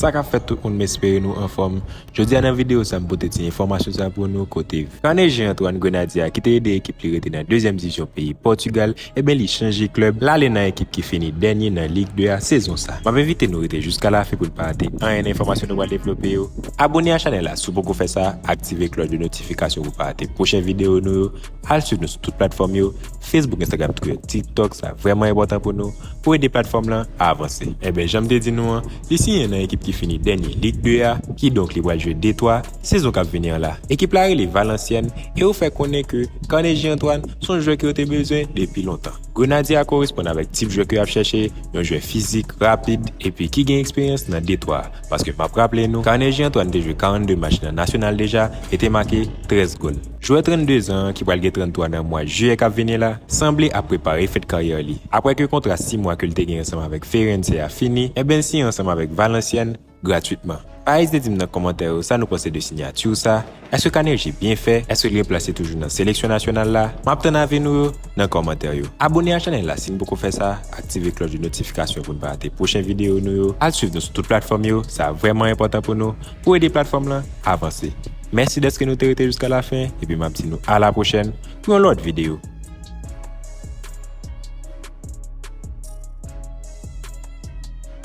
Sa kap fèt tout moun m espere nou anfòm Jodia nan video sa m pote ti enfòmasyon sa pou nou kote Carnegie Antoine Grenadye a ki te ede ekip li rete nan 2 zièm divizyon peyi Portugal Eben li chanje klèb, l ale nan ekip ki fini dènye nan Ligue 2 a sezon sa. M ap envite nou rete jiska lafen pou n pa rate anyen nan enfòmasyon nou pral devlope yo. Abone a chanèl la si w poko fè sa, aktive klòch de notifikasyon pou w pa rate pwochen videyo nou yo, al swiv nou sou tout platfòm yo, Facebook, Instagram, Twitter, TikTok, sa vrèman enpòtan pou nou, pou ede platfòm lan avanse. Eben jan m te di nou an, li siyen nan ekip ki fini dènye Ligue 2 a, kidonk li pral jwe detwa. Sezon kap vini an la, ekip la rele Valenciennes e yo fè konnen ke Carnegie Antoine son jwè ke yo te bezwen depi lontan. Grenadye a koresponn avèk tip jwè ke yap chèche, yon jwè fizik, rapid epi ki gen eksperyans nan Detwa a, paske map raple nou Carnegie Antoine te jwe 42 match nan Nasyonal deja e te make 13 gòl. Jwè 32 zan an ki pral gen 33 nan mwa Jiyè kap vini la, sanble ap prepare fèt karyè li, aprè ke kontra 6 mwa ke li te gen ansanm avèk Feirense a fini, enben l siyen ansanm avèk Valenciennes, Gratwitman. Pa ezite di m nan kòmantè yo sa nou panse de sinyati w sa, èske Kanerjee byen fè, èske l byen plase toujou nan seleksyon nasyonal la? M ap tann avi nou yo nan kòmantè yo. Abone a chanèl la si n poko fè sa, aktive klòch de notifikasyon pou n pa rate pwochen videyo nou yo, al swiv nou sou tout platfòm yo, sa vrèman enpòtan pou nou, pou ede platfòm lan avanse. Mèsi dèske nou te rete jiska lafen epi m ap di nou alapwochèn pou yon lòt videyo.